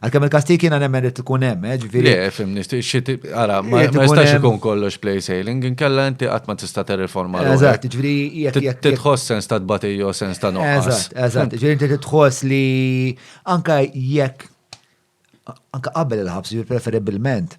Għalkemm il-kastik jiena nemmen li tkun hemm, eh, ġifieri. Le, fimni, ara, ma jistax ikun kollox play sailing, inkella inti qatt ma tista' terriforma. Eżatt, ġifieri jekk jekk. Titħoss sens ta' tbatej jew sens ta' noqqas. Eżatt, eżatt, ġifieri inti titħoss li anke jekk anke qabel il-ħabs, ġifieri preferibilment.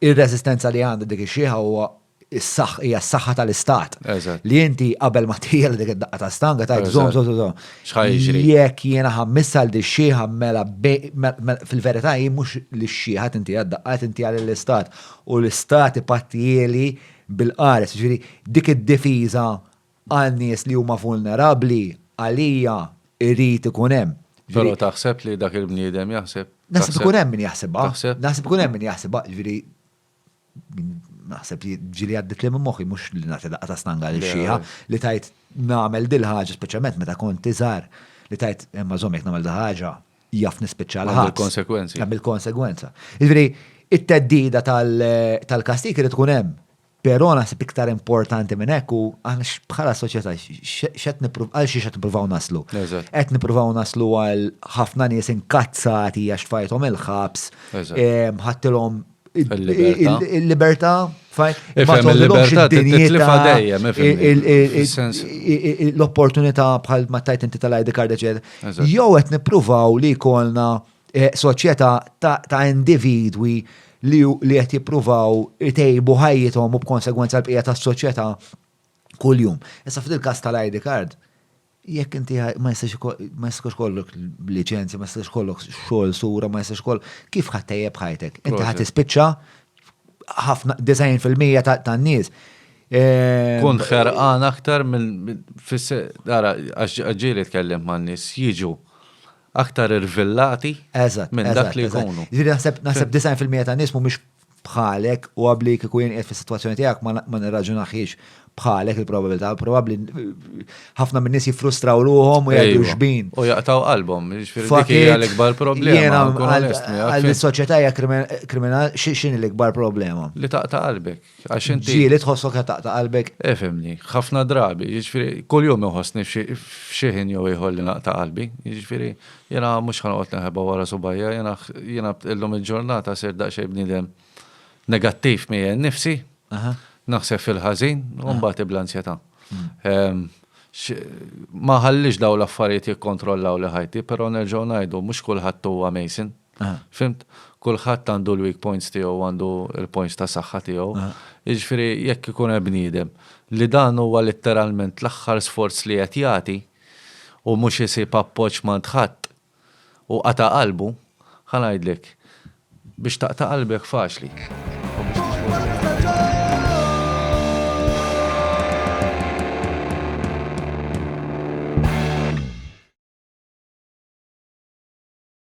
ir-reżistenza li għandha dik ix-xieħa huwa hija s-saħħa tal-istat. Li inti qabel ma tiegħel dik id-daqqa ta' stanga ta' żom żom żom. Jekk jiena ħammiss għal di xieħa mela fil-verità hi mhux li xieħa tinti għad-daqqa tinti għal l-istat u l-istat ipattieli bil-qares. Ġifieri dik id-difiża Għal nies li huma vulnerabbli, għalija, irid ikun hemm. Però taħseb li dak il-bniedem jaħseb? Naħseb ikun hemm min jaħsibha. Taħseb? Naħseb ikun hemm min jaħsibha, jiġifieri naħseb li ġieli għadditli minn moħħi mhux li nagħti daqqa ta' stanga lil xieħa li tajt nagħmel dil ħaġa speċjalment meta kont iżgħar li tajt imma żomm jekk nagħmel dil ħaġa jaf nispiċċa l ħadd. Konsegwenzi. Għamil konsegwenza. Jiġifieri it-teddida tal-kastik irid tkun hemm. Però naħseb iktar importanti minn hekk u aħna bħala soċjetà x'qed nippruvaw għal xiex qed nippruvaw naslu. Qed nippruvaw naslu għal ħafna nies inkazzati għax fajthom il-ħabs, ħattilhom il-libertà l-opportunità bħal ma tajt inti tal-ID card eċetera. Jew qed nippruvaw li jkollna soċjetà ta' individwi li qed jippruvaw itejbu ħajjithom u b'konsegwenza l-bqija tas-soċjetà kuljum. Issa f'dil każ tal-ID card, jekk inti ma jistax kollok liċenzja, ma jistax kollok xogħol sura, ma jistax kollok kif ħadd tejjeb ħajtek? Inti ħadd tispiċċa ħafna 90% tan-nies. Ehm, Kun ħerqan aktar minn fis għax ġieli tkellem man-nies jiġu aktar irvillati Eżatt, minn dak eżatt, li eżatt. jkunu. Jiġifieri naħseb naħseb 90 fil-mija ta' nies mhumiex bħalek u għabli kieku jien qiegħed fis-sitwazzjoni tiegħek ma na- ma nirraġunahiex bħalek il-probabilità. Probabbli ħafna min-nies jiffrustraw ruħhom u jgħidu Ejwa. xbin. U jaqtaw qalbhom, jiġifieri dik Fakit, hija l-ikbar problema. jiena nkun għal- onest miegħek, għal fim? is-soċjetà hija krimen- kriminal xi- x'inhi l-ikbar problema? Li taqta' qalbek. Għax inti. Ġieli tħossok qed taqta' qalbek. Efemni, eh, ħafna drabi, jiġifieri kuljum iħossni f'xi ħin jew ieħor li naqta' qalbi, jiġifieri jiena mhux ħanoqgħod neħeba wara subajja, jiena jiena illum il-ġurnata ser daqsxejn bniedem negattiv miegħi nnifsi, naħseb fil-ħażin u mbagħad ibla ansjetà. Hmm. Ehm, ma ħallix daw l-affarijiet jikkontrollaw li ħajti, però nerġgħu ngħidu mhux kulħadd huwa Mason. Fhimt? Kulħadd għandu l-weak points tiegħu u għandu l-points ta' saħħa tiegħu. Jiġifieri jekk ikun hemm bniedem li dan huwa litteralment l-aħħar sforz li qed jagħti u mhux isib appoġġ m'għand ħadd u qata' qalbu, ħa ngħidlek, biex taqta' qalbek faċli.